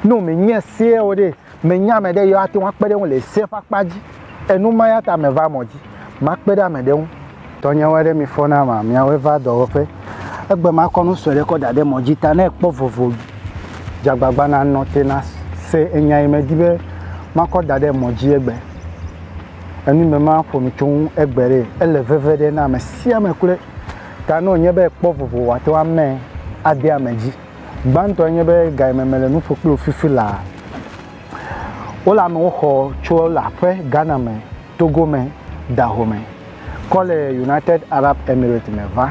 Ne wòmenye sea o ɖe, menya ame ɖe yi woate ŋu akpe ɖe eŋu le sea ƒe akpa dzi. Enu ma ya ta meva mɔ dzi makpe ɖe ame ɖe ŋu. Tɔnyewo aɖe mi fɔ na ma, miawoe va dɔwɔƒe. Egbe makɔ nu sue ɖe kɔ da ɖe mɔ dzi ta ne ekpɔ vovo dze agbagba nanɔ te na se enya yi medi be makɔ da ɖe mɔ dzi egbe. Enu yi me maƒo nu tso ŋu egbe ɖe, ele veve ɖe na ame sia ame kloe ta ne wònye be ekpɔ vovo wòate ŋu amee ade ame dzi. Gbãtɔe nye be ga yi me mele nu ƒo kpli wò fifi laa, wole amewo xɔ tso le aƒe Ghana me, Togo me, Dahomey kɔ le United Arab Emirates me va.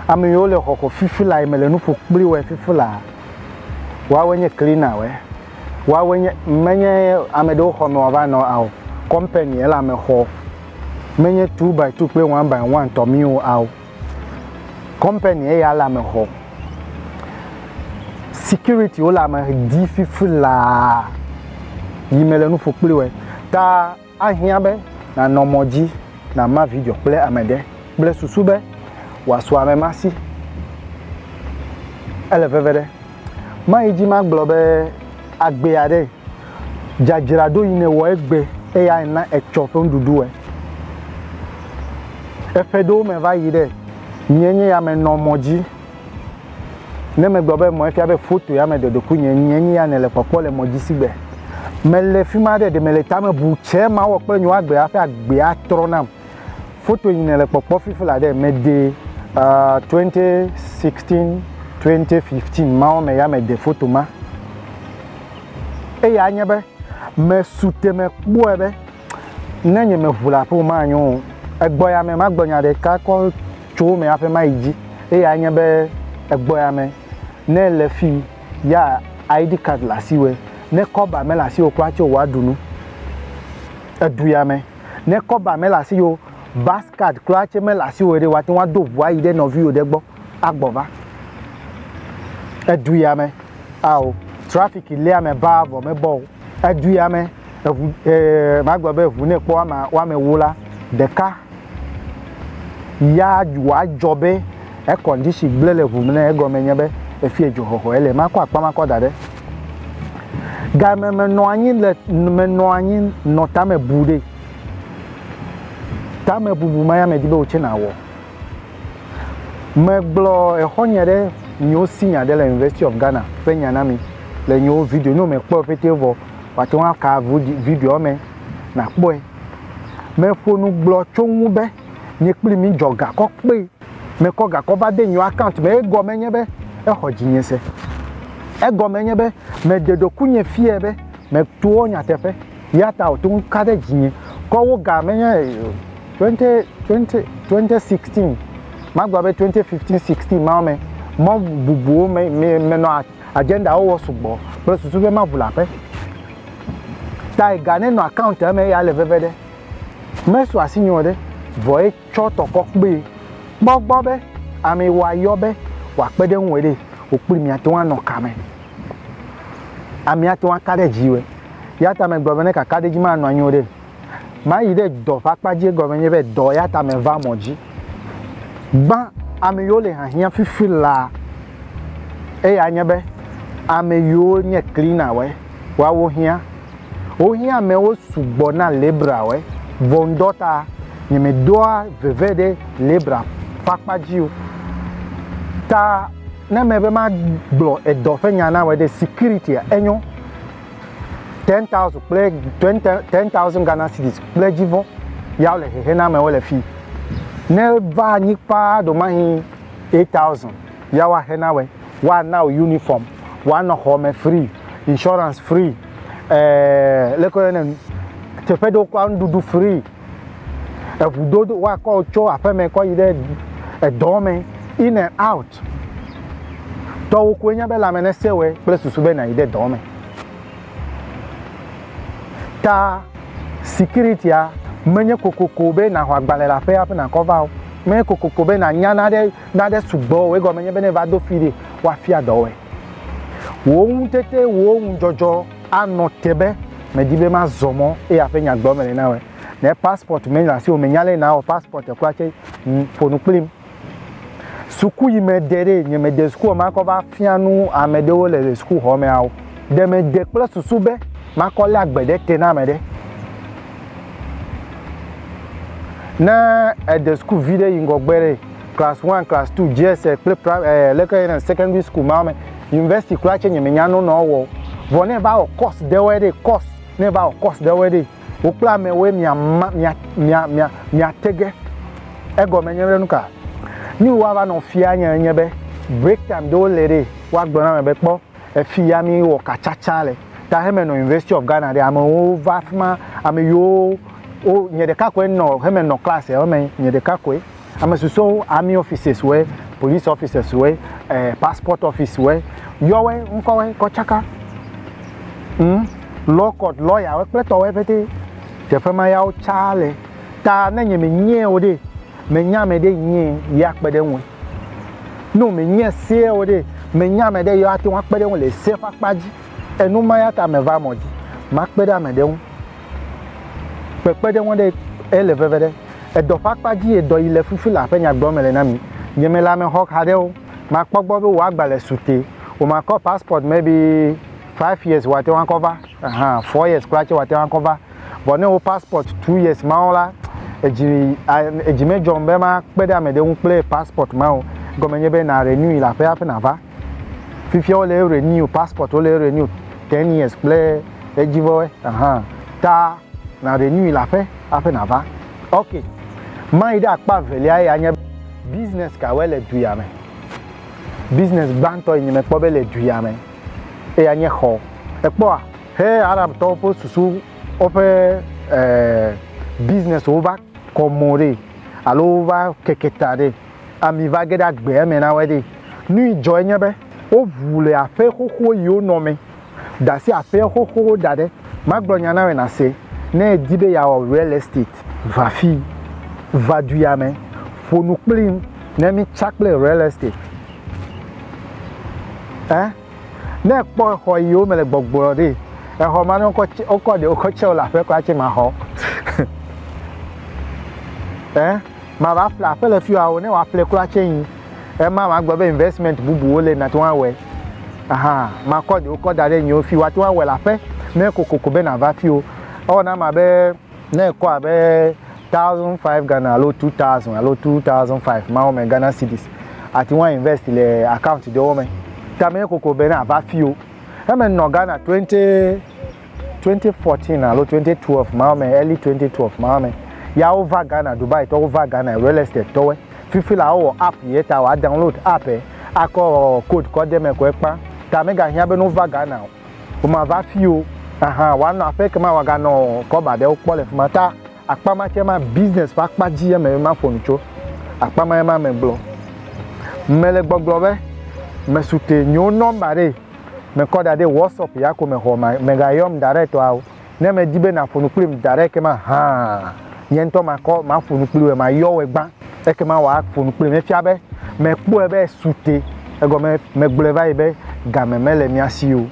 Ame yiwo le xɔ xɔ fifi laa yi mele nu ƒo kpli wòe fifi laa, woawoe nye cleaner wòe, woawoe nye, menye ame ɖewo xɔ me wòava nɔ ao, company ele ame xɔ, menye two by two kple one by one tɔ mí o ao. Kɔmpani eya le ame xɔ. Security wo le ame di fifi laa yi me le nuƒo kpli wɔ ta ahiã be nanɔ mɔ dzi nama video kple ame ɖe kple susu be wòasu amema si. Ele veve ɖe. Mayi dzi magblɔ be, Agbe aɖe, dzadzra ɖo yi nèwɔ egbe eya ena etsɔ ƒe nuɖuɖu ɛ. Eƒe ɖewo me va yi ɖe, nyɛ nye ya menɔ mɔ dzi. Ne megblɔ be mɔ efia be foto ya me dɔdɔkui nye, nyɛ nye ya nèle kpɔkpɔ le mɔ dzi si gbe. Mele fima ɖe, ɖe mele tame bu tsɛ mawɔ kple nye wo agbe hafi agbea atrɔ nam. Foto yi nèle kpɔkpɔ fifi la ɖe, mede twenty sixteen, twenty fifteen mawo me ya mede foto ma. Eya nye be mesu te mekpɔe be ne nye meʋu le aƒe ma nyo o. Egbɔ ya me magblɔ nya ɖeka kɔ tso wo me aƒe ma yi dzi. Eya nye be egbɔ ya me ne ele fi ya ID card le asiwɔe, ne kɔba mele asiwò kura tse o woaɖu nu. Edu ya me. Ne kɔba mele asiwò o, bus card kura tse mele asiwò ɖe, wòate ŋu ado ŋu ayi ɖe nɔviwò ɖe gbɔ agbɔ va. Edu ya me, ao, traffic li ame baa vɔ mebɔ o. Edu ya me, eŋu, ee, magblɔ be eŋu ne kpɔ ama, woame ewo la, ɖeka ya wòadzɔ be Ekɔ ŋdisi gblẽ le ŋu mlɛ egɔme nye be efie dzo hɔhɔ ele makɔ akpa makɔ da ɖe game menɔ anyi le menɔ anyi nɔ tame bu ɖe tame bubu ma ya medi be wotse na wɔ megblɔ exɔ nye ɖe nyewo si nya ɖe le university of Ghana ƒe nya na mi le nyewo video ne me kpɔ ƒete vɔ wate ŋu aka video me na kpɔe meƒo nu gblɔ tso ŋu be nye kpli mi dzɔ gakɔ kpee mekɔ gakɔ va de nyeo akaunt me egɔme nye be exɔ dzinye se. Egɔme nye be meɖe ɖokuinye fiae be meto wo nyateƒe ya ta wòto ŋu ka ɖe dzinye. Kɔ wo ga menye twenty twenty twenty sixteen magblɔ be twenty fifteen sixteen mawo me mɔ bubuwo me me menɔ agendawo wɔ sugbɔ kple susu be maʋu le aƒe. Ta ga nenɔ akauntia me ya le veve ɖe. Mesu asi nyeo ɖe vɔ ye tsɔ tɔkɔ kpee. Kpɔ egbɔ be ame wòayɔ be wòakpe ɖe eŋue ɖe, wò kpli miate ŋu anɔ kame. Amee ate ŋu aka ɖe edzi wɔe. Eya ta megblɔ be ne kaka ɖe edzi manɔ anyi o ɖe, mayi ɖe dɔ ƒe akpa dzi. Egɔme nye be, dɔ ya ta meva mɔ dzi. Gbã ame yiwo le hiahiã fifi laa. Eya nye be, ame yiwo nye cleaner wɔe, woawo hiã. Wohiã amewo sugbɔ na Libra ɔ, vɔ ŋdɔ ta nye me doa veve ɖe Libra ƒe akpa dzi o. Ta ne me be ma gblɔ edɔ ƒe nya na wɔ ɖe security a, enyo. Ten thousand kple ten thousand Ghana cedis kple edzi vɔ ya wole hehe na amewo le fi. Ne va anyi kpaa ɖo mahi eight thousand. ya woaxe na wòe, woana wò uniform, wòanɔ xɔ me free, insurance free, ɛɛ leke woyɔnɛ nu, teƒe ɖewo kura nuɖuɖu free, eŋudodo woakɔ wò tso aƒeme kɔ yi ɖe edɔ me in and out. Tɔwò koe nye be lãme nesẽ wòe kple susu be nàyi ɖe dɔ me. Ta security-a menye kokoko be nàxɔ agbalẽ le aƒea hafi nàkɔ va o. Menye kokoko be nànya naɖe Nane sugbɔ wɔe gɔme nye be ne va do fi ɖi woafia dɔ wɔe. Wò ŋutete, wò ŋudzɔdzɔ anɔ te be medi be mazɔ mɔ eya ƒe nya gblɔm mele na wɔe. Ne passport menɔ asiwò, mènya ale nawɔ passport kura tse, ƒo nu kplim. Suku yi mede ɖe, nye mede suku be makɔ va fia nu ame ɖewo le sukuxɔ mea o. Ɖe mede kple susu be makɔ lé agbe ɖe te na ame ɖe. Ne ède sukuvi ɖe yi ŋgɔgbe ɖe class one, class two, GSS kple pra ɛɛ leke yɔna secondary school ma me, university kura tsɛ nyemenya nu nɔ ewɔ o. Vɔ ne eva wɔ course ɖewɔɛ ɖe, course, ne eva wɔ course ɖewɔɛ ɖe, wò kple amɛwoe mìama, mìa, mìa, mìa, mìate ge. Egɔme nye be nu ka? Nu yi woava nɔ fia nye, enye be break time ɖewo le ɖe woagblɔ na mɛ be kpɔ, Efi ya mi wɔ ka tsatsa le. Ta heme nɔ University of Ghana ɖe, ame wo va fima, ame yi wo, wo, nye ɖeka koe nɔ, heme nɔ class ewo me, nye ɖeka koe. Ame susɔewo army offices woe, police offices woe, eh, passport office woe, yɔ woe, ŋkɔ woe kɔ tsaka. Ŋ, law court lawyer woe kple tɔ woe pɛtɛ. Teƒe ma ya wo tsa le. Ta ne nye me nyae o ɖe, me nya ameɖe yi nyae, yi a kpeɖe ŋue. Ne wòmenye sea o ɖe, menya ame ɖe yi ate ŋu akpe ɖe eŋu le sea ƒe akpa dzi. Enu ma ya ta meva mɔ dzi makpe ɖe ame ɖe ŋu. Kpekpeɖeŋu ɖe ele veve ɖe. Edɔ ƒe akpa dzie dɔ yi le fifi laa ƒe nya gblɔm mele na mi. Nye me le ame xɔxa ɖe o. Makpɔ gbɔ be wò agbalẽ su te. Womakɔ passport maybe five years wòate ŋu akɔ va, ahan, four years kura tsɛ wòate ŋu akɔ va. Vɔ ne wo passport two years mawo la, edzi edzi medzɔm be makpe ɖe amɛɖe ŋu kple passport ma o. Egɔme nye be na renewui le aƒea hafi nava. Fifia wo le renew passport wo le renew ten years kple edzi vɔ we ahan ta na renewui le aƒe hafi nava. Ok, mayi ɖe akpa velia ye anye be. Business ka wɔe le du ya me? Business gbãtɔ yi nye mekpɔ be le du ya me eya nye xɔ. Ekpɔa? He Arabtɔwo ƒe susu woƒe e, business wova kɔ mɔ ɖe alo wova keke ta ɖe ami va ge ɖe agbe eme na woe ɖe. Nui dzɔ enye be woʋu le aƒe xoxo yiwo nɔ me dasi aƒea xoxowo da ɖe. Magblɔ nya nawe nase, ne edi be yeawɔ real estate va fi, va duya me, ƒonu kplim ne mi tsa kple real estate. Eh? Ne ekpɔ exɔ yi wo me le gbɔgblɔ ɖi, exɔ ma ne wokɔ tse wokɔ ɖe wokɔ tse wo le aƒe kura tse maxɔ. e mava ƒle aƒe le fiwa wo ne woaƒle kura tse yi. Ema magblɔ be investment bubuwo le nate ŋu awɔe. Aha makɔ ɖe wokɔ da ɖe nyiwo fi woate ŋu awɔe le aƒe ne kokoko be nava fi wo. Ewɔ na ma be Ne ekɔ abe thousand five Ghana alo two thousand alo two thousand five mawo me Ghana cedis ati ŋu invest le account ɖewo me. Ta me koko be na va fio. Eme nɔ Ghana twenty twenty fourteen alo twenty twelve mawo me early twenty twelve mawo me. Ya wo va Ghana Dubai tɔ wo va Ghana real estate tɔwe. Fifi la wo wɔ app ye ta wa download app e akɔ code kɔ de me ko ekpa. Ta me ga hiã be no va Ghana o. Womava afii o. Ahan, wòanɔ aƒe ke ma wòaganɔ kɔba aɖewo kpɔ le fi ma. Ta akpa ma tsɛ ma, business ƒe akpa dzi ye mele maƒo nu tso. Akpa ma ye ma megblɔ. Mele gbɔgblɔ be, mesute nyewo nɔmba ɖe mekɔ da ɖe WhatsApp ya ko me xɔ ma, megayɔm direct o. Ne medi be nàƒo nu kplim da ɖe ekema hã, nye ŋutɔ makɔ maƒo nu kpli wòe, mayɔ wòe gbã, ekema wòaƒo nu kplim. Efia be mekpɔe be esu te, egɔme megblɔe va yi be game mele mía si o.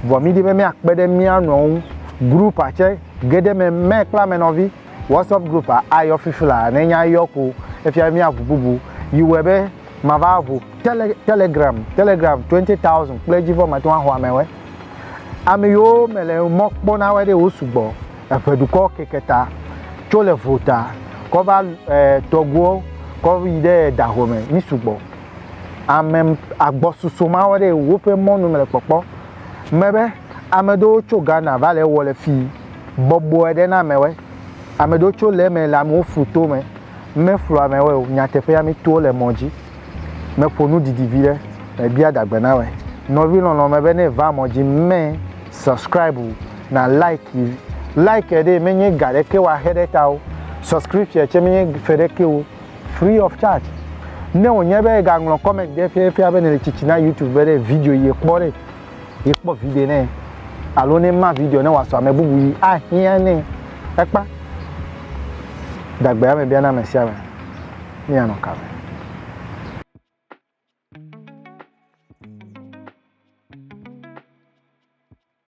Vɔ mídi be míakpe ɖe mía nɔewo ŋu. Grupua tsɛ, ge ɖe eme mɛ kple ame nɔvi. WhatsApp grupua ayɔ fiflaa, ne enye ayɔ ko efia be míaʋu bubu. Yi wɔe be mava ʋu Tele Telegram, Telegram twenty thousand kple edzi vɔ mate ŋu axɔ amewɔe. Ame yiwo mele mɔ kpɔ na woe ɖe wo sugbɔ. Eŋe dukɔ keke ta tso le vo ta kɔ va e tɔgbuiwo kɔ va yi ɖe edaŋu me. Mi sugbɔ. Ame agbɔsusu ma woe ɖe woƒe mɔnu mele kpɔkpɔ. Me be ame aɖewo tso Ghana va le ewɔ le fi bɔbɔe ɖe na amewoe. Ame aɖewo tso le eme le amewo fu tome. Meflu amewoe o. Nyateƒea mi to le mɔ dzi. Meƒo nu didi viɖe mebia dagbe na wɛ nɔvi lɔlɔ me be ne va mɔ dzi me subscribe o na like yi like ɖee menye ga ɖeke wa xe ɖe ta o subscription tse menye fe ɖeke o free of charge ne wo nye be ega ŋlɔ comment ɖe fia fia be ne le tsitsi na youtube be ɖe video yi ekpɔ ɖe yi kpɔ video ne alo ne ma video ne wa sɔ ame bubu yi ahia ne ekpa dagbe ame bia na ame sia ame. ne yeanɔ ka me.